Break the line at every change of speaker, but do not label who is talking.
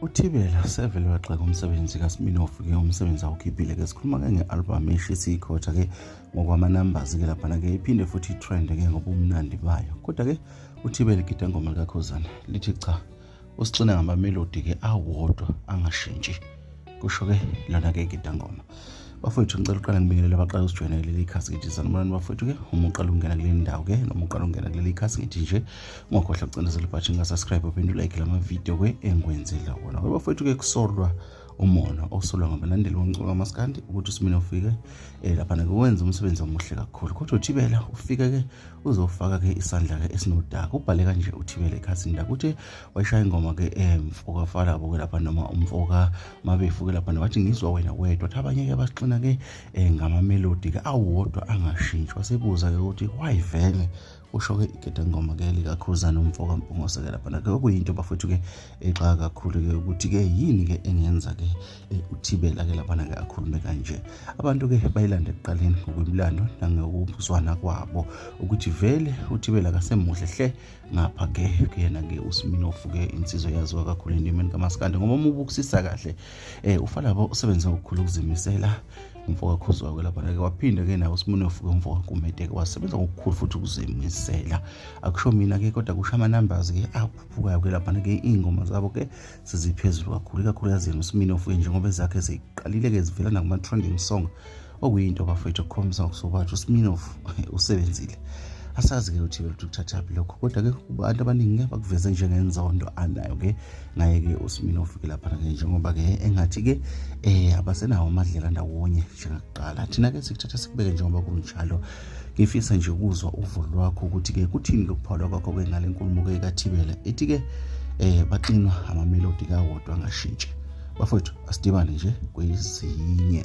uthibela sevele wagxeka umsebenzi kasiminofu ke umsebenzi awukhiphile-ke sikhuluma-ke nge-albhamu eshisa ikhotha-ke ngokwamanambazi-ke laphana-ke iphinde futhi itrend-ke ngobumnandi bayo kodwa-ke uthibela igida ngoma likakhozana lithi cha usixina ngamamelodi-ke awodwa angashintshi kusho ke lona ke igidangoma bafowethu ngicela uqala ngibingelele abaqala usijoyina kuleli khasi ngithi sanibonani bafowethu ke uma uqala ukungena kuleli ndawo ke noma uqala ukungena kuleli khasi ngithi nje ungakhohlwa kucindezela ibhathi ngasubscribe uphinde ulike la mavidiyo ke engikwenzela wona ke bafowethu ke kusolwa umona osolwa ngabalandeli bomculo kamaskandi ukuthi usimina ufike um eh, laphana-ke wenza umsebenzi omuhle kakhulu kodwa uthibela ufike-ke uzofaka-ke isandla-ke esinodaka ubhale kanje uthibela ekhasini lakho uthi wayishaya ingoma ke emfoka eh, fala boke lapha noma umfoka mabefuke lapha wathi ngizwa wena wedwa wathi abanye ke basixina ke eh, ngama melody ke awodwa angashintshwa sebuza ke ukuthi why vele usho-ke igede ngoma ke likakhuzana umfoka mpungoseke laphana ke okuyinto bafethu ke exaka eh, kakhulu-ke ukuthi-ke yini-ke engenza-ke eh, uthibela-ke laphana-ke akhulume kanje abantu-ke bayilanda ekuqaleni ngokwemlando nangokuzwana kwabo ukuthi vele uthibela kasemuhle hle ngapha ke kuyena ke uSminofu ke insizwa yaziwa kakhulu endimeni kamaskandi ngoba uma ubukisisa kahle eh ufalabo usebenze ngokukhulu ukuzimisela umfoka khuzwa ke lapha ke waphinde ke nawo uSminofu ke umfoka kumede ke wasebenza ngokukhulu futhi ukuzimisela akusho mina ke kodwa kusho ama numbers ke aphuphukayo ke lapha ke ingoma zabo ke siziphezulu kakhulu kakhulu yazi uSminofu njengoba ezakhe ziqalile ke zivela nakuma trending song okuyinto bafowethu okukhombisa ngokusobanje usminof usebenzile asazi-ke ukuthi beluthu kuthathaphi lokho kodwa-ke abantu abaningi ngeke bakuveze njengenzondo anayo-ke ngaye-ke usimini ofike laphana-ke njengoba-ke engathi-ke um abasenawo amadlela ndawonye njengakuqala thina-ke sikuthatha sikubeke njengoba kunjalo ngifisa nje ukuzwa uvo lwakho ukuthi-ke kuthini lokuphawula kwakho-ke ngale nkulumo-ke kathibela ethi-ke um baxinwa amamelodi kawodwa angashintshi bafowethu asidibane nje kwezinye